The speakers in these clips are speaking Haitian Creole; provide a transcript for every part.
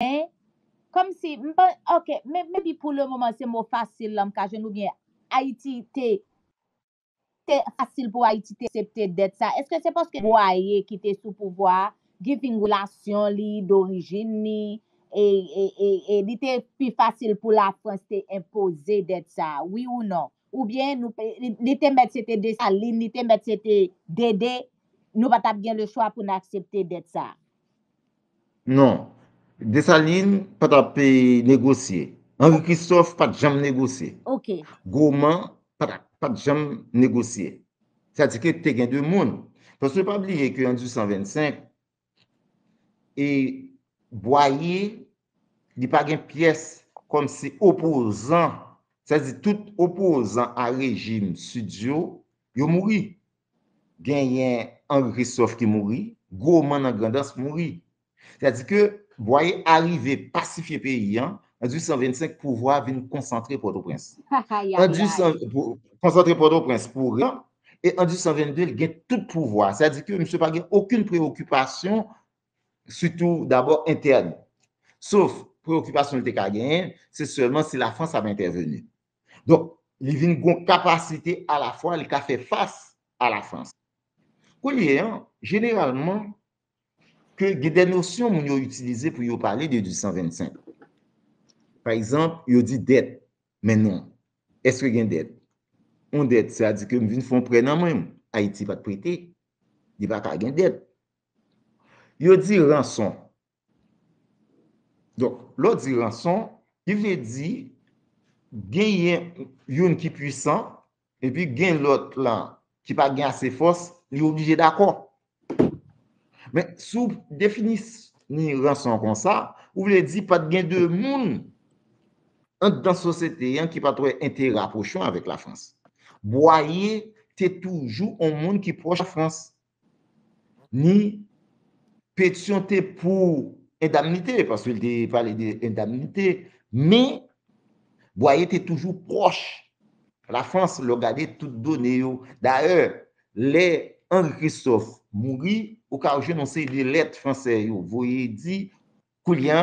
Hein? Kòmsi, m pa, ok, men maybe pou le moman se mo fasil lan m ka jwenn oubyen Ayiti te, te fasil pou Ayiti te septe dèt sa, eske se paske Bwaye ki te sou pouvwa a, giving relasyon li, dorijin ni, e, e, e, e li te pi fasil pou Lafrans te enpoze dèt sa, wi ou non? Oubyen nou pe, li te mèt se te Desalin, li te mèt se te Dede, nou pa t ap gen lechwa pou n aksepte dèt sa? Non. Desalin pa t ap negosye. Anri Kristòf pa t janm negosye. Goman pa t janm negosye. Sa di ke te gen de moun. Paske pa bliye ke an 1825, e Bwaye li pa gen pyès kòm se opozan. Sa di tout opozan a rejim Sid yo, yo mouri. Genyen Henri Christophe ki mouri, gwo man nan Grandans mouri. Sa di ke Bwaye arive pasifye peyi an, an 1825 pouvwa a vin konsantre Pòtoprens. An 1800, konsantre Pòtoprens pou ren, e an 1822 li gen tout pouvwa a. Sa di ke misye pa gen okenn preyokipasyon, sitou dabò entèn. Sof preyokipasyon li te ka genyen, se sèlman si Lafrans ap entèveni. Donk, li vin gen yon kapasite alafwa li ka fè fas a Lafrans. Kounye an, jeneralman, ke gen de nosyon moun yo itilize pou yo pale de 1825. Pa egzanp, yo di dèt. Men non. Eske gen dèt? Yon dèt, sa di ke m vin fè yon prè nan men ou. Ayiti pa t prete. Li pa ka gen dèt. Yo di ranson. Donk, lè w di ranson, li vle di genyen youn ki pwisan epi gen lòt la ki pa gen ase fòs, li oblije dakò. Men, si w defini ranson konsa, ou vle di pa t gen de moun anndan sosyete an ki pa t wè enterè apwoche avèk Lafrans. Bwaye te toujou yon moun ki pwòch Lafrans. Ni Petion te pou endamnite, paske li te pale de endamnite, men Boyer te toujou pwòch la Frans, lè w gade tout done yo. Dayè, lè Henri Christophe mouri, ou ka jwenn yon seri de lèt Fransè yo voye di, koulye a,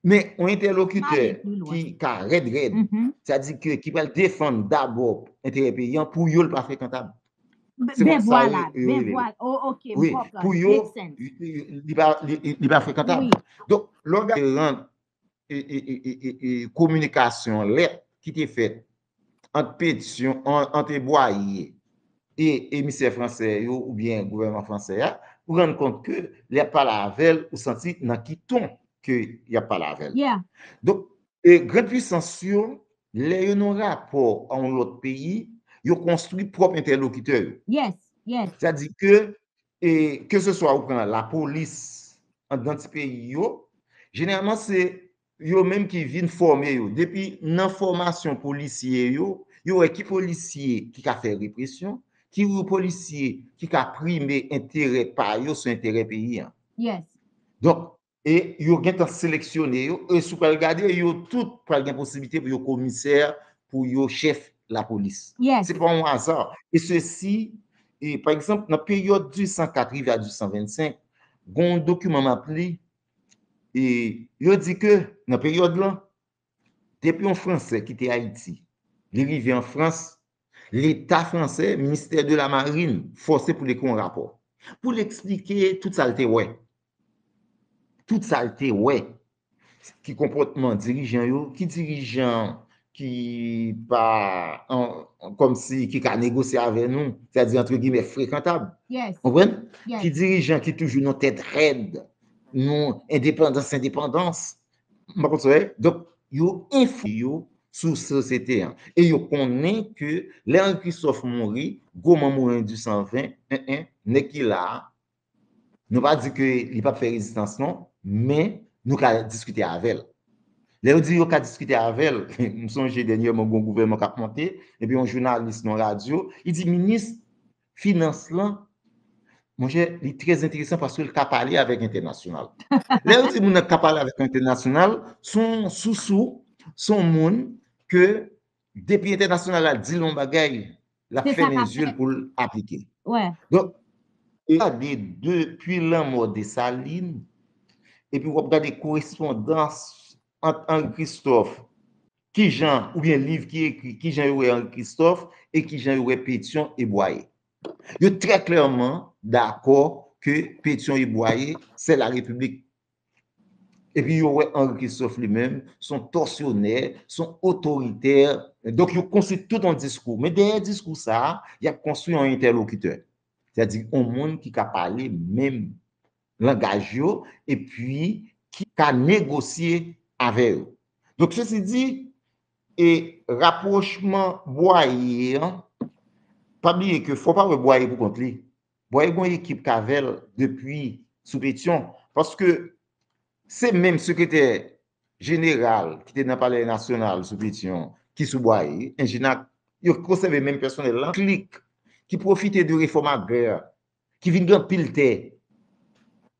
Men, yon entèlokitè ki ka rèd rèd, sa di ke ki pral defann dabò enterè peyi an, pou yo l pa frekantab. Ben vwala, ben vwala, ok, m konprann. Pou yo, li pa frekantab. Donk, lò gade rand kominikasyon lèt ki te fèt, ant Petion, ant Boyer e emisè fransè yo oubyen gouvènman fransè a, ou rann kont ke lè ap pale avè l, ou santi nan ki ton ke y ap pale avè l. Donk, gran puisans yo, lè yo nan yon rapò a yon lòt peyi, yo konstwi pwòp entèlokitè yo. Sa di ke, keseswa ou pran lapolis anndan ti peyi yo, jeneralman se yo menm ki vin fòme yo. Depi nan fòmasyon polisye yo, yo wè ki polisye ki ka fè represyon, ki polisye ki ka prime enterè pa yo sou enterè peyi an. Yes. Donk, e yo gen tan seleksyone yo, e si w pral gade, yo tout pral gen posiblite pou yo komisè, pou yo chèf lapolis. Yes. Se pa yon aza. E se si, e pa egzanp, nan peryòd 1804 rive a 1825, gen yon dokiman m ap li, E yo di ke nan peryòd lan, depi yon Fransè kite Ayiti, li rive an Frans, Leta Fransè, Ministè de la Marine, fòse pou l ekri yon rapò. Pou l eksplike tout sa l te wè. Tout sa l te wè. Ki konpòtman dirijan yo, ki dirijan ki pa, kòm si, ki ka negosye avè nou, sa di antre gimè frekantab. Yes. Konprann? Yes. Ki dirijan ki toujou nan tèt rèd, nou endepandans, endepandans. Mwen konn sa wè? Donk, yo enfo yo sou sosyete an. E yo konnen ke lè Henri Christophe mouri, gwo manm Morin du 120, 1 1, nèg ki la a, Nou pa di ke li pap fè rezistans non, men nou ka diskite avè l. Lè yo di yo ka diskite avè l, m sonje dènyèman gen yon gouvènman k ap monte, epi yon jounalis nan yon radyo, li di minis finans lan, monchè, li trè enteresan paske l ka pale avèk entènasyonal. Lè yo di moun nan ka pale avèk entènasyonal, se yon sousou, se yon moun ke Depi entènasyonal la di l yon bagay, l ap fèmen zye l pou l aplike. Donk, w ap gade depi lanmò Desalin, epi w ap gade korespondans ant Anri Kristòf, ki jan, oubyen liv ki ekri, ki jan yo wè Anri Kristòf, e ki jan yo wè Petyon e Bwaye. Yo trè klèman dakò ke Petyon e Bwaye, sè la Repiblik Epi yo wè Henri Christophe li menm se yon tòsyonè, se yon otoritè. Donk yo konstwi tout yon diskou. Men dèyè diskou sa a, y ap konstwi yon entèlokitè. Sètadi yon moun ki ka pale menm langaj yo epi ki ka negosye avè yo. Donk sesi di, e rapwochman Bwaye an, pa bliye ke fò pa wè Bwaye pou kont li. Bòy gon ekip k avè l depi sou Petyon paske se menm sekretè jeneral ki te nan palè nasyonal sou Petyon ki sou Bwaye, Enjinag, yo konsève menm pèsonèl lan, klik ki pwofite de refòm agrè ki vin gen anpil tè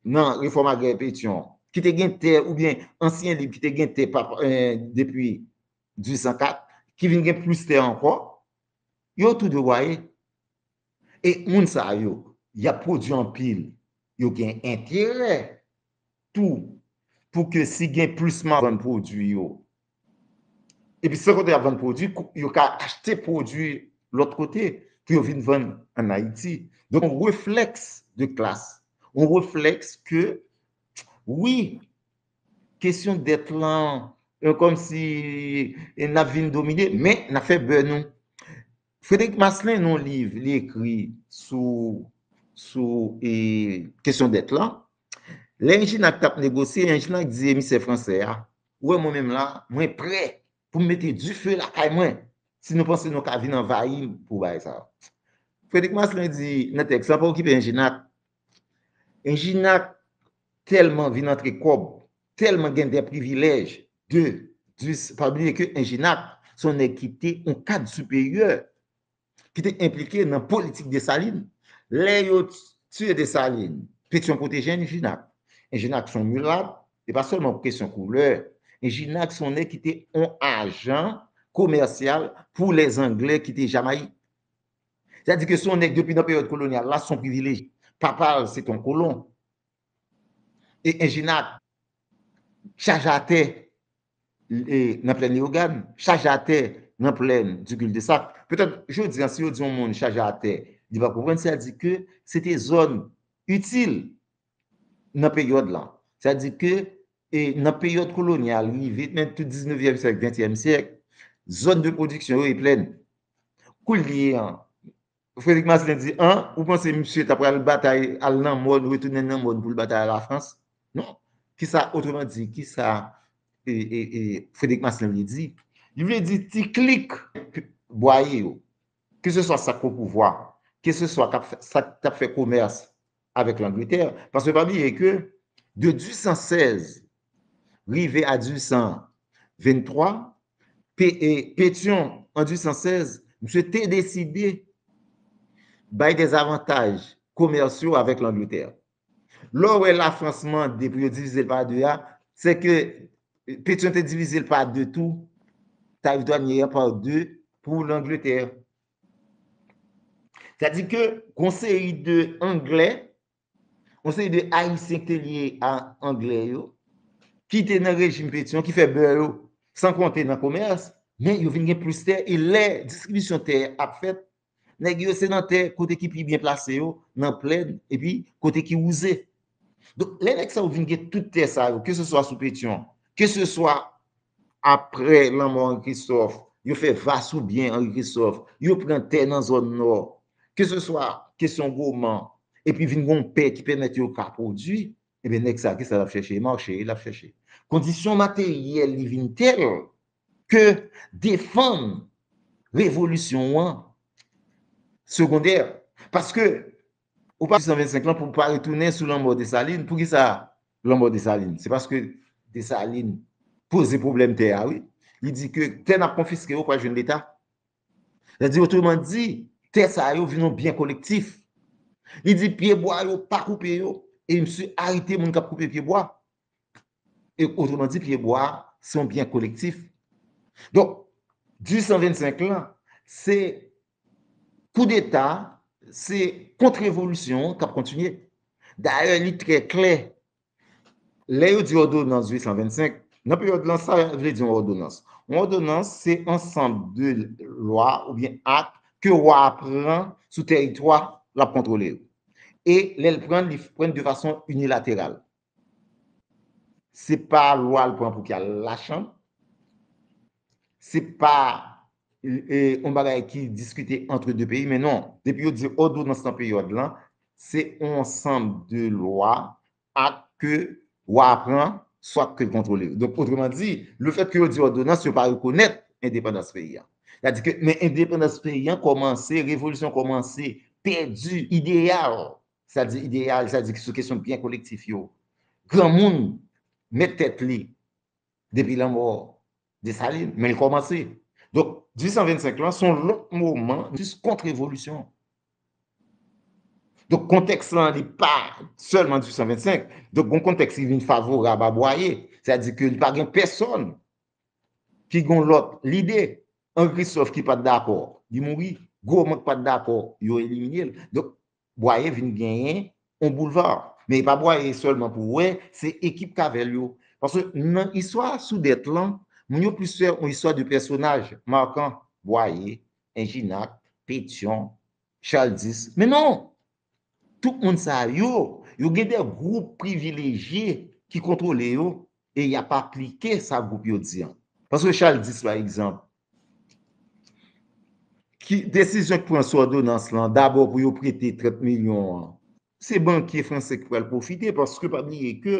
nan refòm agrè Petyon ki te gen tè oubyen ansyen lib ki te gen tè depi 1804 ki vin gen plis tè ankò, yo tou de Bwaye. E moun sa yo, y ap pwodui anpil, yo gen enterè tou pou ke si gen plis moun vann pwodui yo. Epi san konte y ap vann pwodui, yo ka achte pwodui lòt kote pou yo vin vann an Ayiti. Donk yon reflèks de klas, yon reflèks ke wi, kesyon dèt lan, kòmsi n ap vin domine, men n ap fè bè nou. Frederic Maslin nan yon liv li ekri sou sou e kesyon dèt lan, lè Enjinac t ap negosye, Enjinac di emisè fransè a, ou wè mwen menm la, mwen prè pou m mete dife lakay mwen si nou panse nou ka vin anvayi m pou bagay sa a. Frederic Maslin di nan tèks lan, pa okipe Enjinac, Regina telman vin antre kob, telman gen dè privilèj de dis, pa bliye ke Regina se yon nèg ki te yon kad siperyè, ki te enplike nan politik Desalin. Lè yo tiye Desalin, Petyon pwoteje Regina. Regina se yon milat, se pa sèlman pou kesyon koulè. Regina se yon nèg ki te yon ajan komèsyal pou lè zangle ki te Jamayik. Sa di ke son nèg depi nan peryòd kolonyal la, son privilèje. Papa l se te yon kolon. E Enjenak, chaje atè nan plèn Leyogàn, chaje atè nan plèn di Kildesak. Petèt jodi an si yo di yon moun chaje atè, li va konprann sa di ke se te zòn itil nan peryòd lan. Sa di ke nan peryòd kolonyal rive nan tout diznevyèm syèk, ventyèm syèk, zòn de pwodiksyon yo e plèn. Koulye a, Frederic Marcelin di, an, ou panse misye ta pral batay al nan mòn, retounen nan mòn pou l batay a Lafrans? Non. Kisa, otreman di, kisa Frederic Marcelin vle di? Li vle di ti klik bwaye yo, keseswa sa k o pouvwa, keseswa sa k t ap fè komès, avèk Langletè, paske pa bliye ke de 1816 rive a 1823, Petyon an 1816, misye te deside bay de zavantaj komèsyo avèk Langletè. Lè w wè Lafrans mande pou yo divize l pa de a, se ke Petyon te divize l pa de tou, tarif dwanye an pa de pou Langletè. Sa di ke gon seri de anglè, gon seri de ayisyen ki te lye a anglè yo, ki te nan rejim Petyon, ki fè bè yo, san konte nan komès, men yo vin gen plis tè, e lè distribisyon tè ap fèt, nèg yo se nan tè kote ki pi byen plase yo, nan plèn, epi kote ki wouze, Donk, lè nèg sa yo vin gen tout tè sa yo, ke se swa sou Petyon, ke se swa apre lanmò Anri Kristòf, yo fè va sou byen Anri Kristòf, yo pran tè nan zòn nò, ke se swa kesyon goman, epi vin gon pè ki pèmèt yo ka pwodui, enben nèg sa, ki sa l ap chèche? Mache l ap chèche. Kondisyon materyèl li vin tèl ke defann revolisyon an segondè. Paske, Ou pati 125 lan pou pa retounen sou lanmò Desalin. Pou ki sa lanmò Desalin? Se paske Desalin poze pwoblèm tè a wi. Li di ke tè n ap konfiske yo pral jwenn Leta. Sa di otreman di, tè sa yo vin yon byen kolektif. Li di pye bwa yo pa koupe yo e misye arete moun k ap koupe pye bwa. E otreman di pye bwa se yon byen kolektif. Donk, di 125 lan, se Koudeta se kont revolisyon an k ap kontinye. Dayè li trè klè, lè yo di òdonans 825, nan peryòd lan sa vle di yon òdonans? Yon òdonans se ansanm de lwa oubyen ak ke wa a pran sou teritwa l ap kontwole yo. E lè l pran l, li pran l de fason inilateral. Se pa lwa l pran pou ki al lachanm. Se pa yon bagay ki diskite antre 2 peyi men non. Depi yo di òdonans nan peryòd lan, se yon ansanm de lwa ak ke wa a pran swat ke l kontwole yo. Donk otreman di, le fèt ke yo di òdonans, yo pa rekonèt endepandans peyi an. Sa di ke men endepandans peyi an kòmanse, revolisyon kòmanse, pèdi ideyal Sa di ideyal, sa di sou kesyon byen kolektif yo. Granmoun met tèt li depi lanmò Desalin, men l kòmanse. Donk, 1825 lan, se yon lòt moman jis kont revolisyon. Donk, kontèks lan li pa sèlman 1825. Donk, gon kontèks ki vin favorab a Bwaye. Sa di ke li pa gen pèsòn ki gen yon lòt lide. Anri Kristòf ki pa t dakò, li mouri. Gwo moun ki pa t dakò, yo elimine l. Donk, Bwaye vin genyen on boulva. Men e pa Bwaye sèlman pou wè, se ekip k avè l yo. Paske nan istwa soudèt lan, moun yo plis fè on istwa de pèsonaj markan, Bwaye, Enjinac, Petyon, Charles X. Men non! Tout moun sa yo, yo gen de gwoup privilejye ki kontwole yo e y ap aplike sa gwoup yo di an. Paske Charles X pa egzanp, Ki desizyon ki pran sou òdonans lan, dabò pou yo prete 30 milyon an, se bankye franse ki pral pwofite paske pa bliye ke